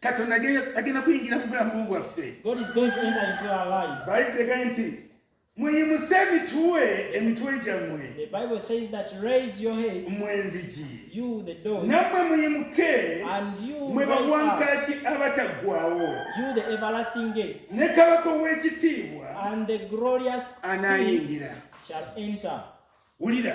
katonda agenda kuyingira mu bulamu bwaffe bayibuli egaye nti muyimuse emitwe emitwe gyammwe mwenzigi nammwe muyimuke mwe bawankaaki abataggwawo ne kabaka ow'ekitiibwa anaayingira wulira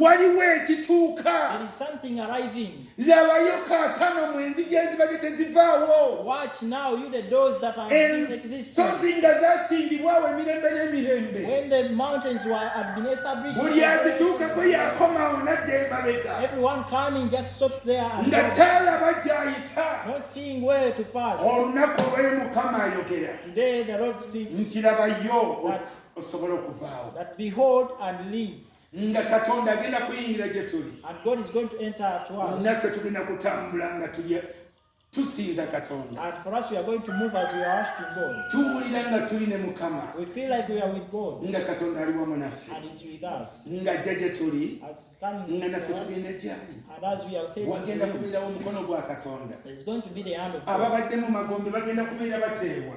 waliwo ekituuka labayo kaakano mu enzigi ezibadde tezivaawo ensozi nga zasimbibwawo emirembe n'emirembe buli azituukako yakomawo nadda emabega nga taalaba gyayita olunaku olwayo mukama ayogera nti labayo osobola okuvaawo nga katonda agenda kuyingira gye tuli naffe tugenda kutambula nga tulya tusinza katonda tuwulira nga tuli ne mukama nga katonda ali wamu naffe nga ajja gye tuli nga naffe tugenda gyali wagenda kubeerawo omukono gwa katonda ababadde mu magombe bagenda kubeera bateebwa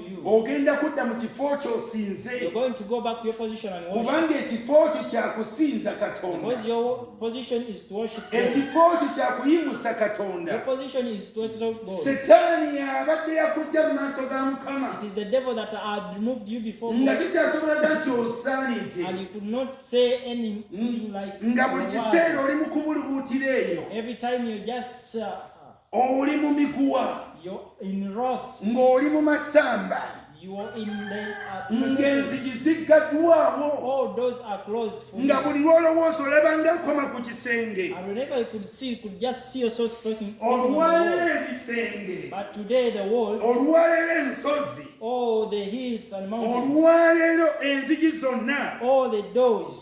ogenda kudda mu kifo kyosinze kubanga ekifo kyo kyakusinza katonda ekifo kyo kyakuyimusa katonda setaani abadde yakujja mu maaso ga mukama nga tukyasobolaga nti osaanidde nga buli kiseera oli mu kubulubuutira eyo oli mu miguwa ng'oli mu masamba ng'enzigi ziggaddwawo nga buli lw'olowooza olaba ng'akoma ku kisenge olwaleero ebisenge olwaleero ensozi olwaleero enzigi zonna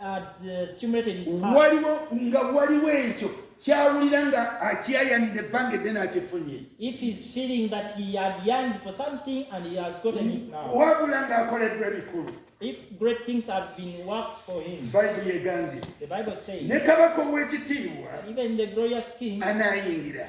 uh, waliwo nga waliwo ekyo kyawulira nga akyayanidde ebbanga edde n'akifunye wabula ng'akoleddwa ebikulu If great things have been worked for him, Bible yegambye, the Bible says, ne kabaka ow'ekitiibwa, even the glorious king, anaayingira